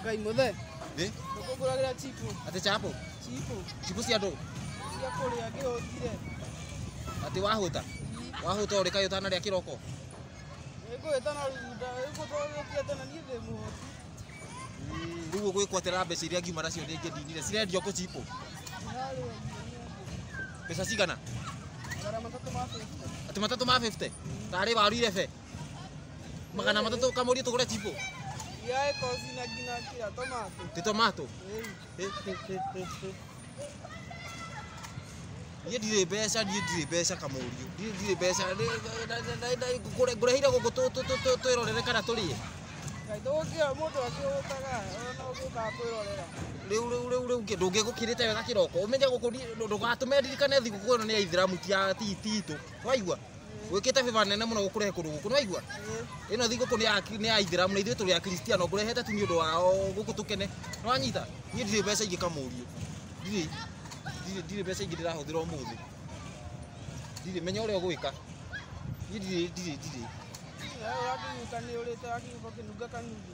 Ngai muthe. Eh? Ndũkũgũragĩra chipo. Atĩ chapo. Chipo. Chipo cia ndũ. Cia kũrĩa ngĩhũtire. Atĩ wahũta. Wahũta ũrĩ kaĩ ũtanarĩa kĩroko. Ngũhĩta na runda. Ngũtũgĩtia tena niĩ ndĩ mũhũti. Rĩu ũgwĩkwatĩra mbeca iria ngiuma nacio nĩ ngĩndinire. Cirendio kũ chipo? Mbeca cigana? Magana matatũ ma 50. Atĩ matatũ ma 50? Tarĩ waru irebe? magana matatũ ũkamũria tũgũre cibũ Yae kozi na ngina kira tomato. ndĩ tomato Ei. niĩ ndirĩ mbeca niĩ ndirĩ mbeca kamũriũ niĩ ndirĩ mbeca Nĩ- na- na- na- na- ngũre- ngũreheire gũkũ tũ- tũ- tũ- tũ- twĩrorere kana tũrĩe Ngai ndũgũkĩra mũndũ akĩgũtaga ona ũgĩũkaga kwĩrorera. rĩu rĩu rĩu rĩu kĩ- ndũngĩgũkĩrĩte wega kĩroko ũmenye gũkũ ni- ndũ- ndũgatũme ndirikane thigũkũ ĩno nĩ ya ithiramu ti ya ti ti itũ waigua gwikite biba nene muno gukurehe kundu guku nwaigua ino thiguku ni ya ni ya ithiramu na ithuĩ tũrĩ a kristiano ngũrehete tu nĩ ũndũ wao gũkũ tũkene nĩwanyita niĩ ndirĩ mbeca ingĩ kamũriũ ndirĩ ndirĩ- ndirĩ mbeca ingĩ ndĩrahũthĩra ũmũthĩ ndirĩ menya ũrĩa ũgwĩka niĩ ndirĩ ndirĩ ndirĩ Wewe watu mtani uleta watu kwa kinuga kanuni.